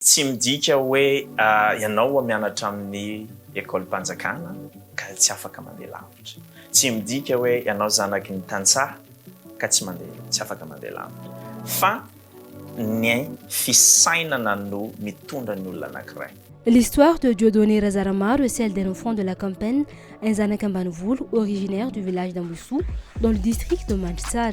Tsy midika hoe ianao a mianatra amin'ny ekolim-panjakana ka tsy afaka mandeha lavitra. Tsy midika hoe ianao zanaky ny tantsaha ka tsy mandeha, tsy afaka mandeha lavitra. Fa ny fisainana no mitondra ny olona anankiray. L'histoire de Dieudonné Razaramaro est celle d'un enfant de la campagne, un zanak'ambanivolo, originaire du village d'Ambohisoa, dans le district de Mandritsara.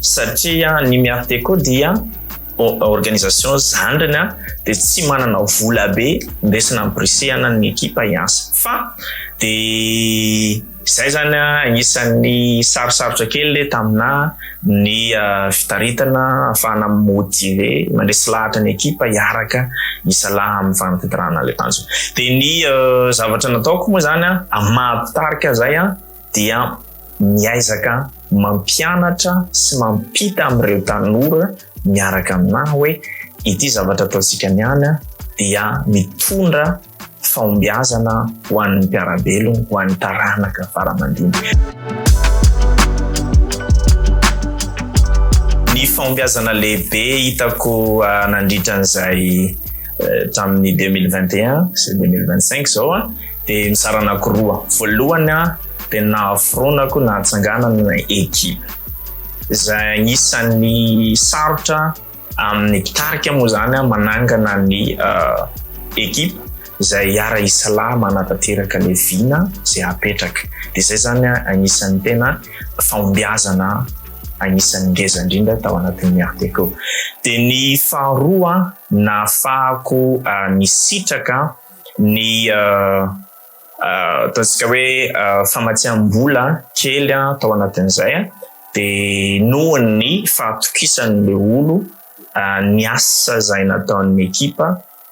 satria ny Miarteco dia organisation zandriny dia tsy manana vola be ndesina ampirisihana ny ekipa hiasa fa dia izay zany agnisan'ny sarosarotra kely tamina ny fitaritana afahana motive mandresy lahatra ny ekipa hiaraka isalaha amin'ny fanatitirahana le tanjona dia ny zavatra nataoko moa zany amin'ny maha mpitarika zay dia miaizaka mampianatra sy mampita amin'ireo tanora miaraka aminà hoe ity zavatra ataontsika niany dia mitondra fahombiazana ho an'ny mpiara-belona, ho an'ny taranaka faramandimby. Ny fahombiazana lehibe hitako ah, nandritra an'izay eh, tamin'ny 2021 sy 2025 zao ah, dia mizara anakiroa, voalohany an dia nahaforonako nahatsanganana ekipa, izay anisan'ny sarotra amin'ny mpitarika moa izany an manangana ny ekipa izay hiara hisalahy manatanteraka ilay vina izay hapetraka, dia izay izany an anisan'ny tena fahombiazana anisan'ny ngeza indrindra tao anatin'ny Art Déco, dia ny faharoa an nahafahako nisitraka ny ataontsika hoe famatsiam-bola kely tao anatin'izay dia noho ny fahatokisan'ilay olo ny asa izay nataon'ny ekipa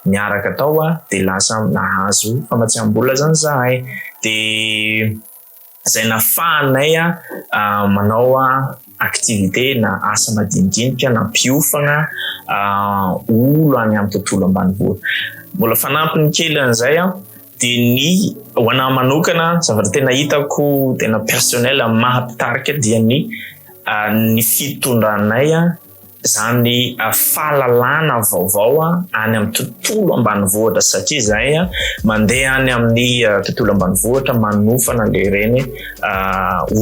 niaraka tao dia lasa nahazo famatsiam-bola zany izahay dia izay nafahanay manao activité na asa madinidinika nampiofagna olo any amin'ny tontolo ambanivohitra. Mbola fanampiny kely an'izay de ny ho anahy manokana zavatra tena hitako tena personnel maha mpitarika dia ny ny fitondranay izany fahalalana vaovao any amin'ny tontolo ambanivohitra satria izay mandeha any amin'ny tontolo ambanivohitra manofana le reny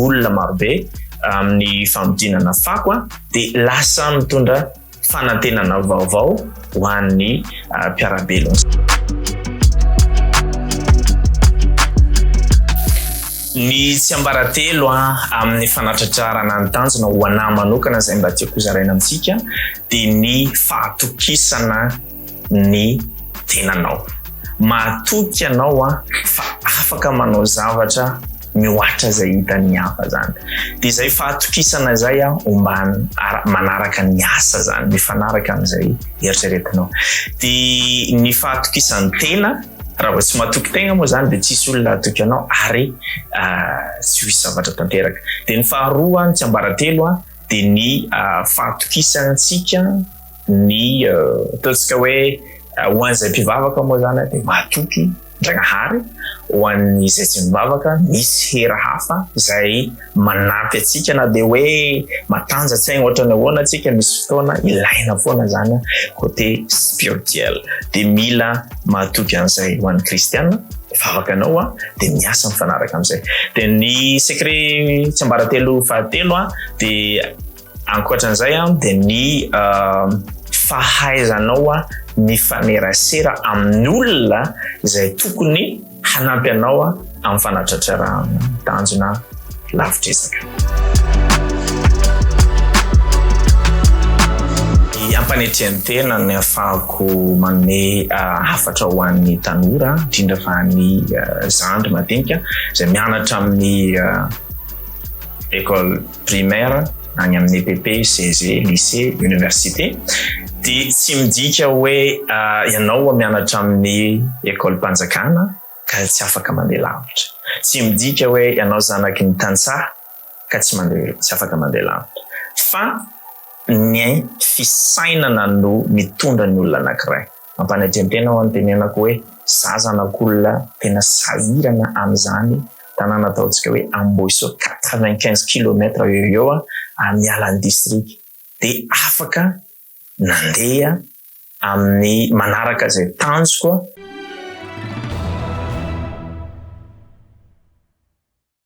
olona marobe amin'ny famodinana fako dia lasa mitondra fanantenana vaovao ho an'ny mpiarabelona. Ny tsiambaratelo amin'ny fanatratrarana ny tanjona ho anah manokana izay mba tiako hozaraina amintsika dia ny fahatokisana ny tenanao. Mahatoky ianao fa afaka manao zavatra mihoatra izay hitan'ny hafa izany. Dia izay fahatokisana izay homba manaraka ny asa izany, mifanaraka amin'izay eritreretinao. Dia ny fahatokisan'ny tena Raha vao tsy matoky tegna moa zany dia tsisy olona hatoky anao ary tsy ho hisy zavatra tanteraka. Dia ny faharoa, ny tsiambaratelo a, dia ny fahatokisantsika ny ataontsika hoe ho an'izay mpivavaka moa zany dia mahatoky Ndragnahary, ho an'izay tsy mivavaka misy hery hafa izay manampy antsika na dia hoe matanjatsaigna ohatrany ahoana antsika misy fotoana ilaina foana zany a côté spirituel de mila mahatoky an'izay ho an'ny kristiana vavaka anao a de miasa mifanaraka am'izay de ny secret tsiambaratelo fahatelo a de Ankoatran'izay dia ny fahaizanao mifanerasera amin'ny olona izay tokony hanampy anao amin'ny fanatratrarahana ny tanjona lavitr'izaka. Ampanetren tena ny afahako manome ah, hafatra ho an'ny tanora indrindra fa ny ah, zandry madinika izay mianatra amin'ny ah, école primaire, any amin'ny EPP, CEG, lycée, université, dia tsy midika hoe ianao mianatra amin'ny ekolim-panjakana ka tsy afaka mandeha lavitra. Tsy midika hoe ianao zanaky ny tantsaha ka tsy mandeha tsy afaka mandeha lavitra. Fa ny fisainana no mitondra ny olona anankiray. Ampanajentena aho anontenenako hoe za zanak'olona tena sahirana amin'izany tanàna ataontsika hoe Ambohisoa quatre-vingt-quinze kilomètre eo ho eo ary miala ny district dia afaka nandeha amin'ny manaraka izay tanjoko